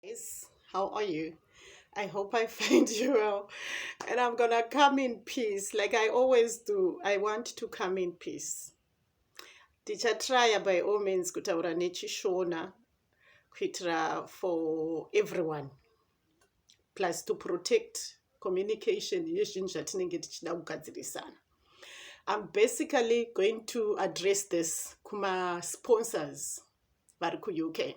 Yes, how are you? I hope I find you well. And I'm going to come in peace like I always do. I want to come in peace. Tichatraya by all means kutaura nechishona kuitira for everyone plus to protect communication yezvinhu zvatinenge tichida kugadzirisana. I'm basically going to address this kuma sponsors vari kuUK.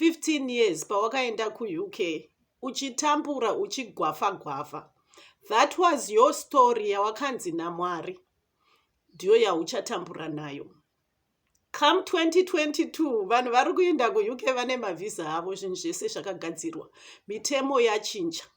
15 years pawakaenda kuuk uchitambura uchigwafa gwafa that was your story yawakanzi namwari ndiyo yauchatambura nayo come 2022 vanhu vari kuenda kuuk vane mavhiza avo zvinhu zvese zvakagadzirwa mitemo yachinja ya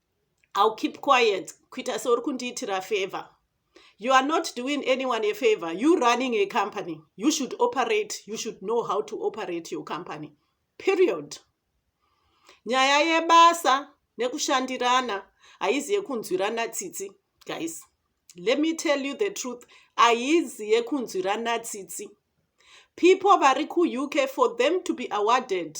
I'll keep quiet kuita seuri kundiitira favor you are not doing anyone a favor you running a company you should operate you should know how to operate your company period nyaya yebasa nekushandirana haizi yekunzwirana tsitsi guys let me tell you the truth haizi yekunzwirana tsitsi people vari kuuk for them to be awarded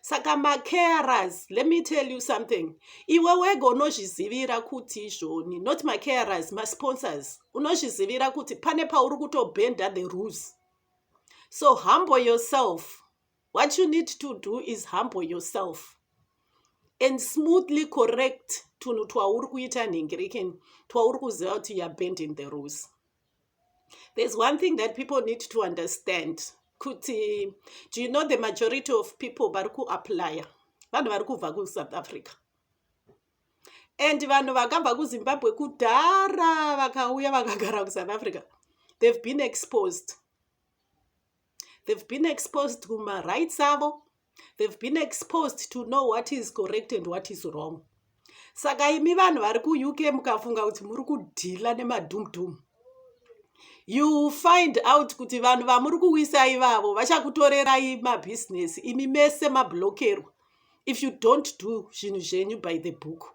saka macarers let me tell you something iwe wega unozvizivira kuti izvoni not macarers masponsors unozvizivira kuti pane pauri kutobhenda the rules so humble yourself what you need to do is humble yourself and smoothly correct tunhu twauri kuita nhengerekeni twauri kuziva kuti youare bending the rules there's one thing that people need to understand kuti do you know the majority of people vari kuaplya vanhu vari kubva kusouth africa and vanhu vakabva kuzimbabwe kudhara vakauya vakagara kusouth africa they've been exposed they've been exposed kumarights avo they've been exposed to know what is correct and what is wrong saka imi vanhu vari kuuk mukafunga kuti muri kudhila nemadumdum you find out kuti vanhu vamuri kuwisa ivavo vachakutorerai mabhizinesi imi mese mablokerwa if you don't do zvinhu zvenyu by the book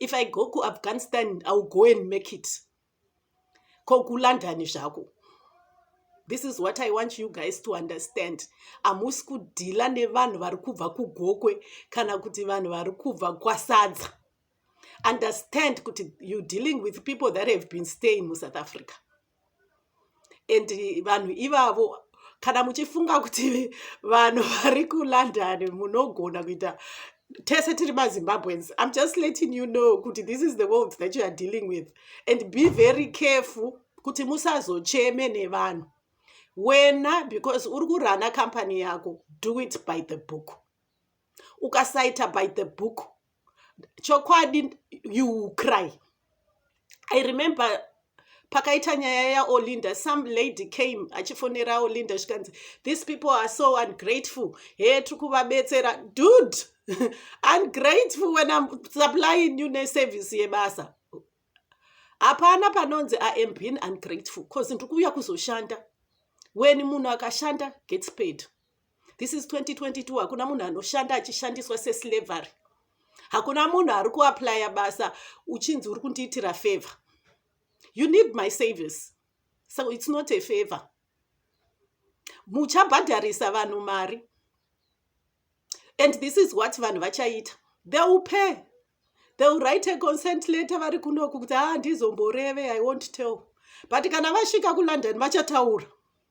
if i go kuafghanistan iwill go and make it ko kulondon zvako this is what i want you guys to understand hamusi kudhila nevanhu vari kubva kugokwe kana kuti vanhu vari kubva kwasadza understand kuti you dealing with people that have been staying musouth africa and vanhu ivavo kana muchifunga kuti vanhu vari kulondon munogona kuita tese tiri mazimbabweans im just letting you know kuti this is the world that you are dealing with and be very careful kuti musazocheme nevanhu wena because uri kurana company yako do it by the book ukasaita by the book chokwadi you cry i remember pakaita nyaya yaolinda some lady came achifonera olinda zvikanzi these people are so ungrateful he tiri kuvabetsera dude ungrateful when im supplying you neservice yebasa hapana panonzi i am being ungrateful bcause ndiri kuuya kuzoshanda when munhu akashanda gets paid this is 2022 hakuna munhu anoshanda achishandiswa seslavery hakuna munhu ari kuaplya basa uchinzi uri kundiitira favor you need my service so it's not a favor muchabhadharisa vanhu mari and this is what vanhu vachaita they will pay they will write a consent letter vari kunoku kuti ha ah, ndizomboreve i won't tell but kana vasvika kulondon vachataura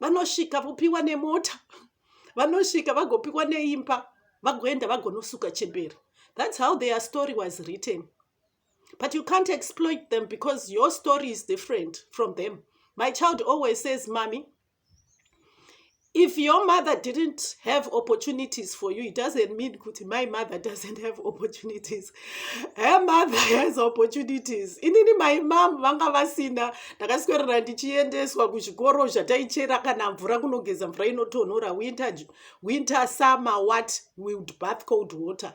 vanosvika vopiwa nemota vanosvika vagopiwa neimba vagoenda vagonosuka chembere that's how their story was written but you can't exploit them because your story is different from them my child always says mommy If your mother didn't have opportunities for you, it doesn't mean kuti my mother doesn't have opportunities. Her mother has opportunities. Inini my mom vanga vasina ndakaswerera ndichiendeswa kuzvikoro zvataichera kana mvura kunogeza mvura inotonhora winter, winter summer what with bath cold water.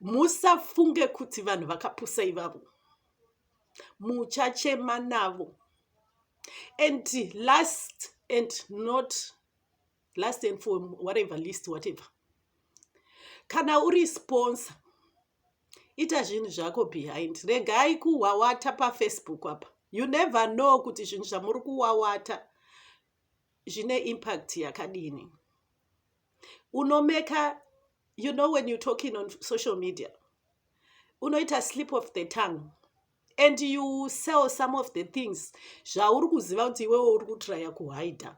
musafunge kuti vanhu vakapusa ivavo muchachema navo and last and not last and for whatever list whatever kana uri sponsor ita zvinhu zvako behind regai kuhwawata pafacebook apa you never know kuti zvinhu zvamuri kuwawata zvine impact yakadini unomeka you know when you talking on social media unoita slip of the tongue and you sell some of the things zvauri kuziva kuti iwewe uri kutraya kuhaida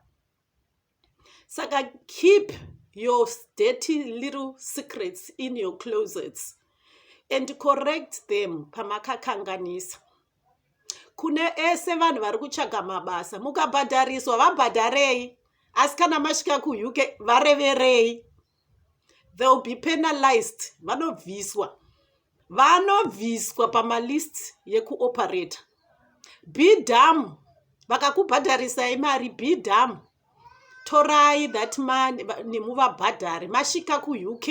saka keep your dirty little secrets in your closets and correct them pamakakanganisa kune ese vanhu vari kutsvaga mabasa mukabhadhariswa vabhadharei asi kana masvika kuuk vareverei they will be penalized vanobviswa vanobviswa pamalist yekuoperator bdam vakakubhadharisai mari bdam torai that money nemuvabhadhari masvika kuuk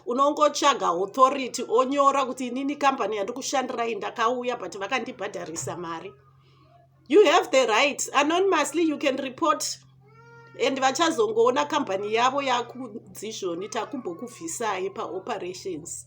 unongotsvaga authority onyora kuti inini kambani yandikushandirai ndakauya but vakandibhadharisa mari you have the right anonymously you can report and vachazongoona kambani yavo yakudzizvoni takumbokubvisai paoperations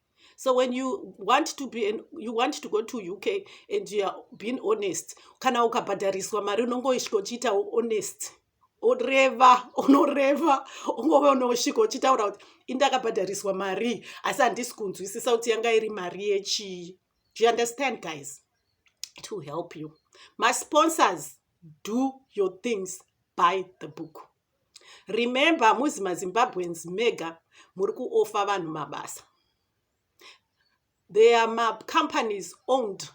so when you want to be an, you want to go to uk and you are being honest kana ukabhadhariswa mari unongosvika uchiita honest oreva unoreva ungove unosvika uchitaura kuti indakabhadhariswa mari asi handisi kunzwisisa kuti yanga iri mari yechii do you understand guys to help you masponsors do your things by the book Remember hamuzi maZimbabweans mega muri kuoffer vanhu mabasa. There are macompanies owned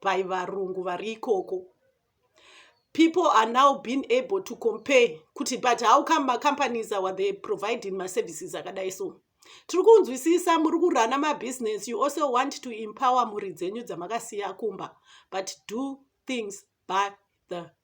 by varungu vari ikoko. People are now being able to compare kuti but how come macompanies awa they providing maservices akadai so. Tiri kunzwisisa muri kurana mabusiness you also want to empower mhuri dzenyu dzamakasiya kumba but do things by the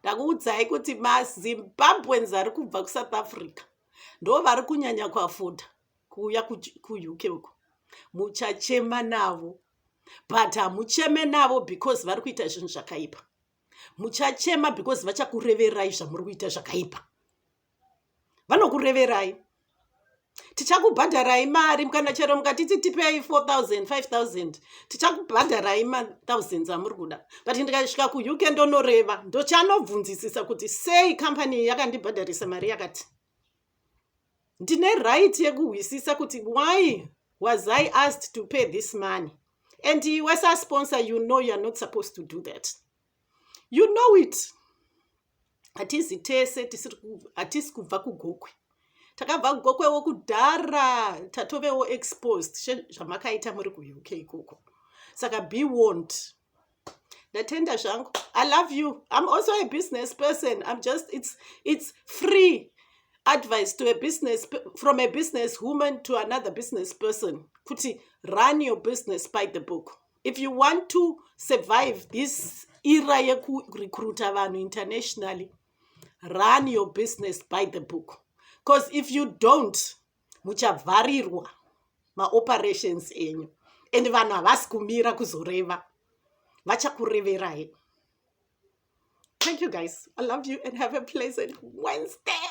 ndakuudzai kuti mazimbabweans ari kubva kusouth africa ndo vari kunyanya kuafoda kuuya kuuk uko muchachema navo but hamucheme navo because vari kuita zvinhu zvakaipa muchachema because vachakureverai zvamuri kuita zvakaipa vanokureverai tichakubhadharai mari kana chero mukatiti tipei 4000 5000 tichakubhadharai mathousands amuri kuda but ndikasvika kuuk ndonoreva ndochanobvunzisisa kuti sei kambani iyi yakandibhadharisa mari yakati ndine right yekuhwisisa kuti why was i asked to pay this money and iwe sasponsor you know youare not supposed to do that you know it hatizi tese hatisi kubva kugokwe takabva kugokwewo kudhara tatovewo exposed sezvamakaita muri kuuk ikoko saka be warned ndatenda zvangu i love you i'm also a business person i'm just it's, it's free advice to a business from a business woman to another business person kuti run your business by the book if you want to survive this era yekurecruita vanhu internationally run your business by the book because if you don't muchavharirwa maoperations enyu and vanhu havasi kumira kuzoreva vachakureverai thank you guys i love you and have a pleasant wednesday